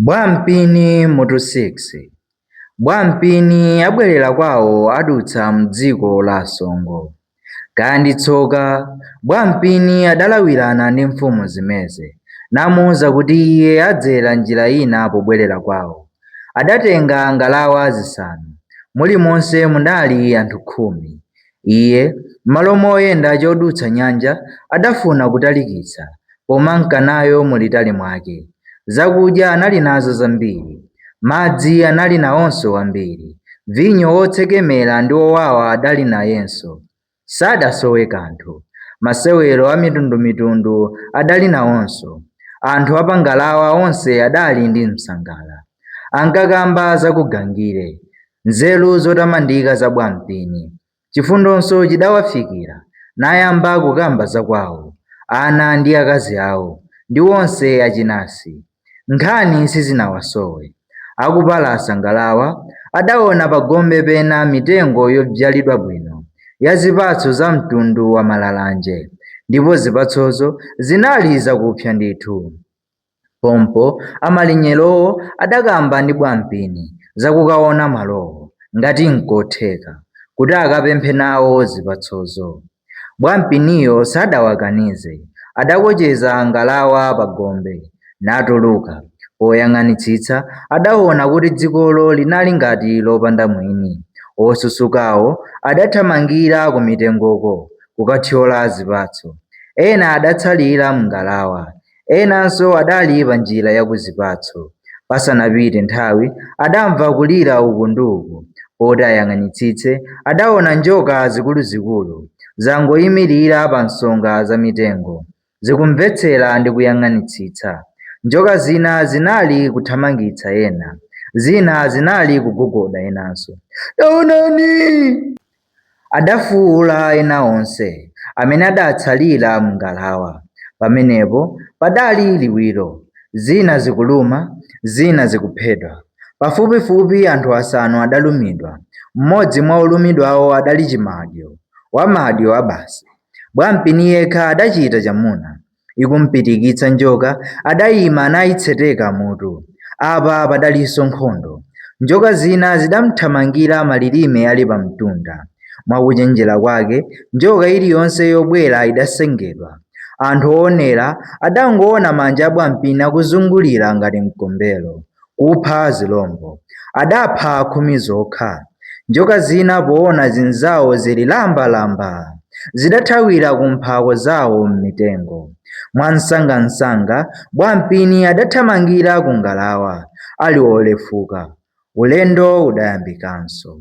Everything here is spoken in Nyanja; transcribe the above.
Bwampini mutu 6 Bwampini abwerera kwawo adutsa m'dziko la Asongo. Kaya ndi tsoka, Bwampini adalawirana ndi mfumu Zimeze, namuuza kuti iye adzera njira ina pobwerera kwawo. Adatenga ngalawa zisanu, mulimonse munali anthu khumi. Iye, m'malo moyenda chodutsa nyanja, adafuna kutalikitsa, pomanka nayo mulitali mwake. Zakudya anali nazo zambiri. Madzi anali nawonso ambiri. Vinyo wotsekemera ndi wowawa adali nayenso. Sadasowe kanthu. Masewero a mitundumitundu adali nawonso. Anthu a pa ngalawa onse adali ndi msangala. Ankakamba za kugangire. Nzeru zotamandika za Bwampini. Chifundonso chidawafikira, nayamba kukamba za kwawo, ana ndi akazi awo, ndi onse achinasi. Nkhani sizinawasowe. Akupalasa ngalawa, adaona pagombe pena mitengo yobzyalidwa bwino, ya zipatso za mtundu wa malalanje, ndipo zipatsozo zinali zakupsa ndithu. Pompo amalinyerowo adakamba ndi Bwampini za kukaona malowo, ngati n'kotheka, kuti akapemphe nawo zipatsozo. Bwampiniyo sadawakanize, adakocheza ngalawa pagombe, natuluka. Poyang'anitsitsa, adaona kuti dzikolo linali ngati lopanda mwini. Osusukawo adathamangira kumitengoko kukathyola zipatso. Ena adatsalira m'ngalawa. Enanso adali panjira ya ku zipatso. Pasanapite nthawi, adamva kulira uku ndi uku. Poti ayang'anitsitse, adaona njoka zikuluzikulu, zangoimirira pa nsonga za mitengo, zikumvetsera ndi kuyang'anitsitsa. Njoka zina zinali kuthamangitsa ena, zina zinali kugogoda enanso. Taonani! Adafuula ena onse amene adatsalira m'ngalawa. Pamenepo padali liwiro, zina zikuluma, zina zikuphedwa. Pafupifupi anthu asanu adalumidwa. Mmodzi mwa olumidwawo adali Chimadyo, wamadyo abasi. Bwampini yekha adachita chamuna. ikumpitikitsa njoka adayima nayitseteka mutu. Apa padalinso nkhondo. Njoka zina zidamthamangira malilime ali pamtunda. Mwa kuchenjera kwake, njoka iliyonse yobwera idasengedwa. Anthu oonera adangoona manja a Bwampini akuzungulira ngati mkombero. kupha zilombo. Adapha khumi zokha. Njoka zina poona zinzawo zili lambalamba, zidathawira ku mphako zawo m'mitengo. Mwamsangamsanga, Bwampini adathamangira ku ngalawa ali wolefuka. Ulendo udayambikanso.